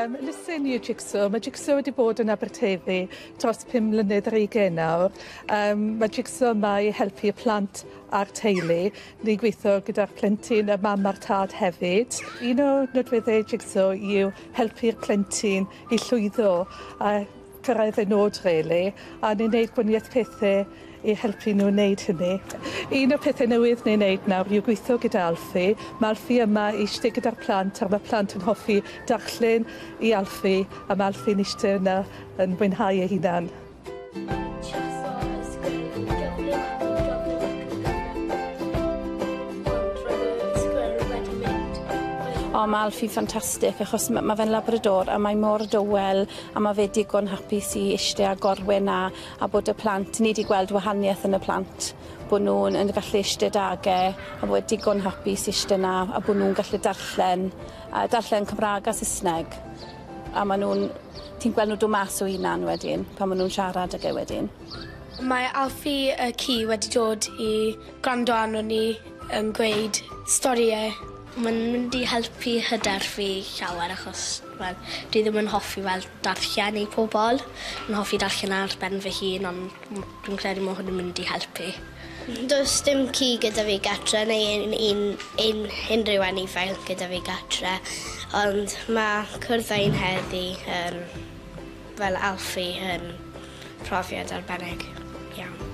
Um, Lysen i y Jigsaw. Mae Jigsaw wedi bod yn Aberteifi dros 5 mlynedd ar ei gen nawr. Um, mae Jigsaw yma i helpu y plant a'r teulu. Ni'n gweithio gyda'r plentyn, y mam a'r tad hefyd. Un o nodweddau Jigsaw yw helpu'r plentyn i llwyddo a cyrraedd eu nod rili, a ni'n neud gwanieth pethe i helpu nhw neud hynny. Un o'r pethe newydd ni'n neud nawr yw gwitho gyda Alfie. Ma' Alfie yma i ishte gyda'r plant a ma' plant yn hoffi darllen i Alfie a ma' Alfie'n ishte yna yn mwynhau ei hunan. O ma' Alfie fantastic achos ma' ma' fe'n labrador a mae mor dywel a ma fe digon hapus i ishte a gorwe na a bod y plant ni di gweld wahaniaeth yn y plant bo nhw'n yn gallu ishte dage a fod digon hapus ishte na a bo nhw'n gallu darllen a darllen Cymraeg a Saesneg a ma nhw'n ti'n gweld nhw do mas o hunan wedyn pan ma nhw'n siarad ag e wedyn Mae Alfie y ci wedi dod i gwrando arno ni yn gweud storïe Mae'n mynd i helpu hyder fi llawer achos wel dwi ddim yn hoffi fel darllen i pobl. Yn hoffi darllen ar ben fy hun ond m- dwi'n credu ma' hwn yn mynd i helpu. Does dim ci gyda fi gatre neu un un un unrhyw anifail gyda fi gatre ond ma' cwrdd â un heddi yn Fel Alfie yn profiad arbennig iawn.